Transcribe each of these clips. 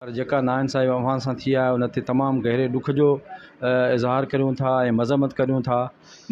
پر جيڪا ناانصافي اوهان سان ٿي آهي ان تي تمام گهري ڏک جو اظهار ڪريون ٿا ۽ مذمت ڪريون ٿا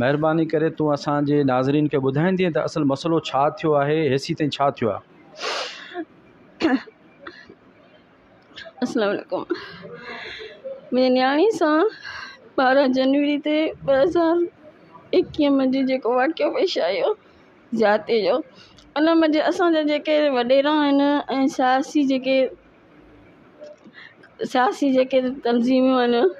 مهرباني ڪري تون اسان جي ناظرين کي ٻڌائيندين ته اصل مسئلو ڇا ٿيو آهي هيسي تائين ڇا ٿيو آهي السلام عليڪم منهنجي نياڻي سان ٻارهن جنوري تي ٻه هزار ايڪيهه ۾ جي جيڪو واقعو پيش آيو جاتي جو ان ۾ جي اسان جا جيڪي وڏيرا آهن ۽ سياسي جيڪي سياسي جيڪي تنظيمون آهن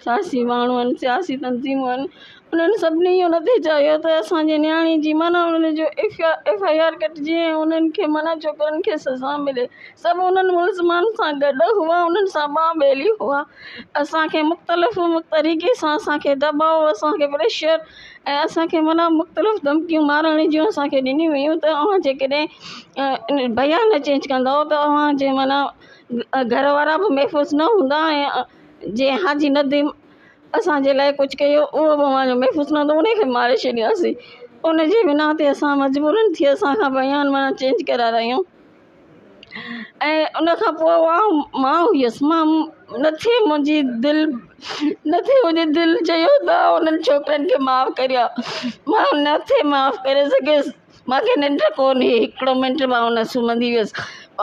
سياسي ماڻهو آهن سياسي تنظيمون آهن انهن سڀني ان تي چاهيو ته اسانجي نياڻي جي معنيٰ ان جو ايف آ ايف آئي آر ڪٽجي ۽ انهن کي معنيٰ چوڪرن کي سزا ملي سڀ انهن ملزمن سان گڏ هئا انهن سان ٻانهه ٻيلي هئا اسانکي مختلف طريقي سان اسانکي دٻاء اسانکي پريشر ۽ اسان کي معنيٰ مختلف ڌمڪيون مارڻ جون اسان کي ڏنيون ويون ته اوهان جيڪڏهن بيان نه چينج ڪندو ته اوهان جي معنيٰ گهر وارا به محفوظ نه هوندا ۽ جي حاجي نديم اسان جي لاء ڪجهه ڪيو اهو به معنيٰ محفوظ نه هوندو ان کي ماري ڇڏياسين ان جي بنا تي اسان مجبورن ٿي اسان کان بيان معنيٰ چينج ڪرارايون ۽ ان کان پوء اها ماء هيس. مان نه ٿي منهنجي دل نه ٿي منهنجي دل چيو ته آء انهن ڇوڪرن کي معاف ڪريان. مان نه ٿي معاف ڪري سگهيس. مان کي ننڊ ڪونهي. هڪڙو منٽ مان نه سمهندي ويس.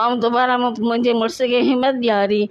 آئون دوباره منهنجي مڙس کي همت ڏياري.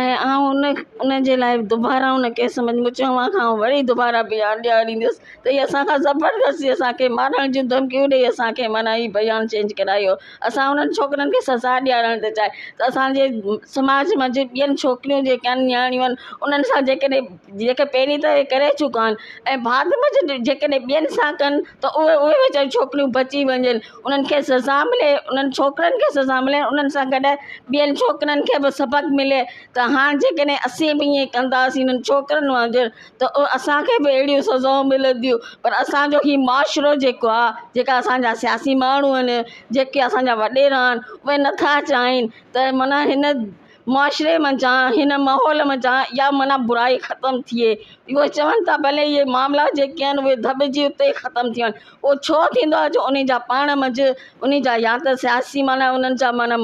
۽ آئون ان ان جي لاء دوباره ان ڪيس ۾ مون چيو اوهان کان آئون وري دوباره بيان ڏياريندس ته هي اسان کان زبردستي اسانکي مارڻ جون ڌمڪيون ڏئي اسانکي معنيٰ هي بيان چينج ڪرايو اسان انهن ڇوڪرين کي سزا ڏيارڻ ٿي چاهي ته اسانجي سماج مان جي ٻين ڇوڪريون جيڪي آهن نياڻيون آهن انهن سان جيڪڏهن جيڪي پهرين ته هي ڪري چڪا آهن ۽ بعد ۾ جيڪڏهن ٻين سان ڪن ته اهي اهي ويچاريون ڇوڪريون بچي وڃن انهن کي سزا ملي انهن ڇوڪرن کي سزا ملي انهن سان گڏ ٻين ڇوڪرن کي به سبق ملي ته هاڻ جيڪڏهن اسين به ائين ڪنداسين انهن ڇوڪرن وانگر ته اسانکي به اهڙيون سزائون ملنديون پر اسانجو هي معاشرو جيڪو آهي جيڪا اسانجا سياسي ماڻهو آهن جيڪي اسانجا وڏيرا آهن اهي نٿا چاهين ته معنيٰ هن معاشري منجهان هن ماحول منجهان اها معنيٰ برائي ختم ٿئي. اهو چون ٿا ڀلي اهي معاملا جيڪي آهن اهي ڌٻجي اتي ئي ختم ٿي وڃن. اهو ڇو ٿيندو آهي جو انهن جا پاڻ منجهه انهن جا يا ته سياسي معنيٰ انهن جا معنيٰ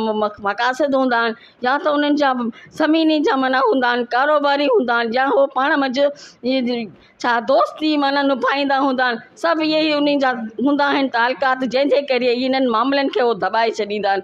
مقاصد هوندا آهن يا ته انهن جا زميني جا معنيٰ هوندا آهن ڪاروباري هوندا آهن يا اهو پاڻ منجهه ڇا دوستي معنيٰ نڀائيندا هوندا آهن سڀ اهي ئي انهن جا هوندا آهن تعلقات جنهن جي ڪري هي انهن معاملن کي هو ڌٻائي ڇڏيندا آهن.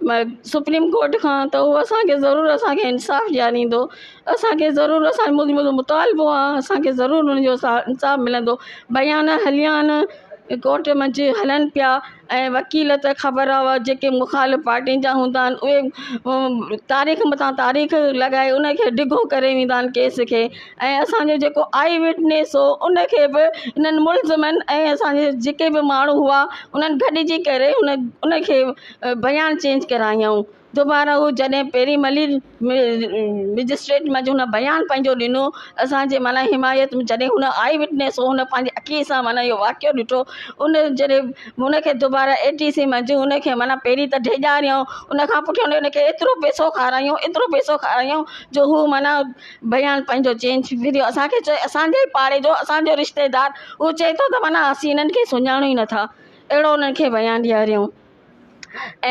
سپريم ڪورٽ کان ته هو اسانکي ضرور اسانکي انصاف ڏياريندو اسانکي ضرور اسان جو مطالبو آ اسانکي ضرور ان جو انصاف ملندو بيان هليان ڪورٽ منجهه هلن پيا ۽ وڪيل ته خبر آ هئا جيڪي مخالف پارٽين جا هوندا آهن اهي تاريخ مٿا تاريخ لڳائي ان کي ڊگهو ڪري ويندا آهن ڪيس کي ۽ اسانجو جيڪو آئي وٽنيس هو ان کي به انهن ملزمن ۽ اسانجي جيڪي به ماڻهو هئا انهن گڏجي ڪري ان ان کي بيان چينج ڪرايائون دوباره هو جڏهن پيري ملير مئجسٽريٽ منجهه هن بيان پنهنجو ڏنو اسان جي معنيٰ حمايت ۾ جڏهن هن آئي وٽنيس هو هن پنهنجي اکين سان معنيٰ اهو واقعو ڏٺو ان جڏهن هن کي دوباره اي ٽي سي منجهه هن کي معنيٰ پيري ته ڊيڄاريائون ان کان پٺيان هن کي ايترو پئسو کارايائون ايترو پئسو کارايائون جو هو معنيٰ بيان پنهنجو چين ڇنڀريو اسان کي چوي اسان جي ئي پاڙي جو اسان جو رشتيدار اهو چئي ٿو ته معنيٰ اسين هنن کي سڃاڻون ئي نٿا اهڙو انهن کي بيان ڏياريون ۽